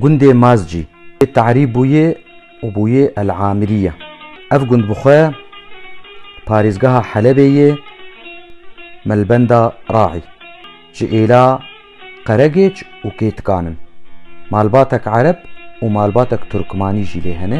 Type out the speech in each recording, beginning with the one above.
Gundê Mazcî yê Te'rî bûye û bûye El Amiriye. Ev gund bi xwe parêzgeha Helebê yê Melbenda Raî, ji êla Qeregêç û Kêtikan in. Malbatek Ereb û malbatek Turkmanî jî lê hene.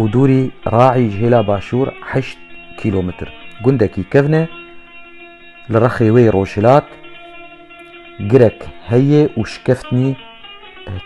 û dûrî Raî ji hêla başûr heşt kîlometr. Gundekî kevn e, li rexê wê rojhilat girek heye û şikeftnî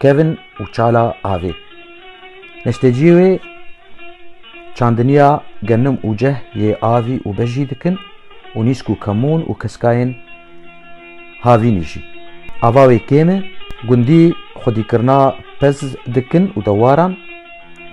kevn û çala avê. Neşteciyê wê çandiniya genim û ceh yê avî û bejî dikin û nîsk û kemûn û keskayên havînî jî. Ava wê kêm e, gundî xwedîkirina pez dikin û dewaran,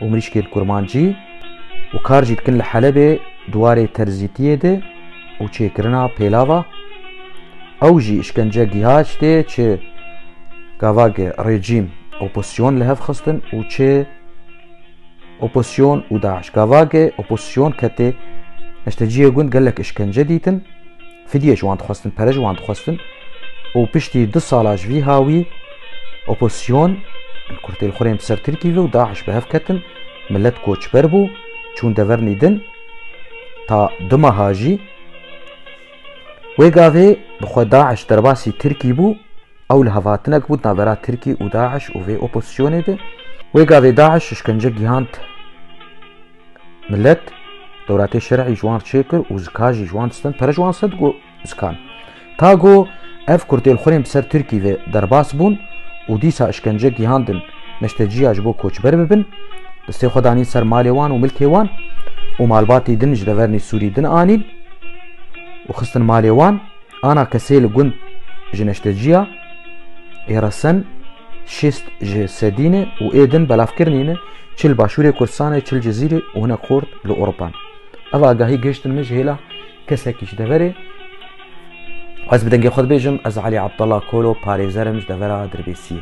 û mirîşkên kurmancî û kar jî dikin li Helebê di warê terzîtiyê de û çêkirina pêlava ew jî îşkence giha ji tê çi gavage rejîm opozîsyon li hev xistin û çi opozîsyon û DAIŞ gavage opozîsyon ketê neşteciyê gund gelek îşkence dîtin Fidye ji wan dixwestin, pere ji wan dixwestin û piştî du sala ji vî ha wî opozîsyon li kurtê li xwe rê ser Tirkî ve û DAIŞ bi hev ketin, milet koçber bû, çûn devernî din, ta du meha jî. Wê gavê bi xwe DAIŞ derbasî Tirkî bû. Ew li hevatinek bû di navbera Tirkî û DAIŞ û vê opozîsyonê de. Wê gavê DAIŞ îşkence gihand milet, dewletê şer'î ji wan çê kir û zika jî ji wan stend, pere ji wan stend ku zikan. Ta ku ev kurtêlxwirên bi ser Tirkî ve derbas bûn û dîsa îşkence gihandin neşteciya ji bo koçber bibin, destê xwe danîn ser malê wan û milkê wan û malbatî din ji deverî Sûrî din anîn û xistin malê wan Ana kesê li gund ji neşteciya ê re sen şêst ji sedî ne û ê din belavkirinî ne çi li başûrê Kurdistanê çi li Cizîrê û hinek xort li Ewropan. Ev agahî gihiştin min ji hêla kesekî ji deverê. Ez bi dengê xwe dibêjim ez Elî Abdullah Kolo parêzer im ji devera Dirbêsiyê.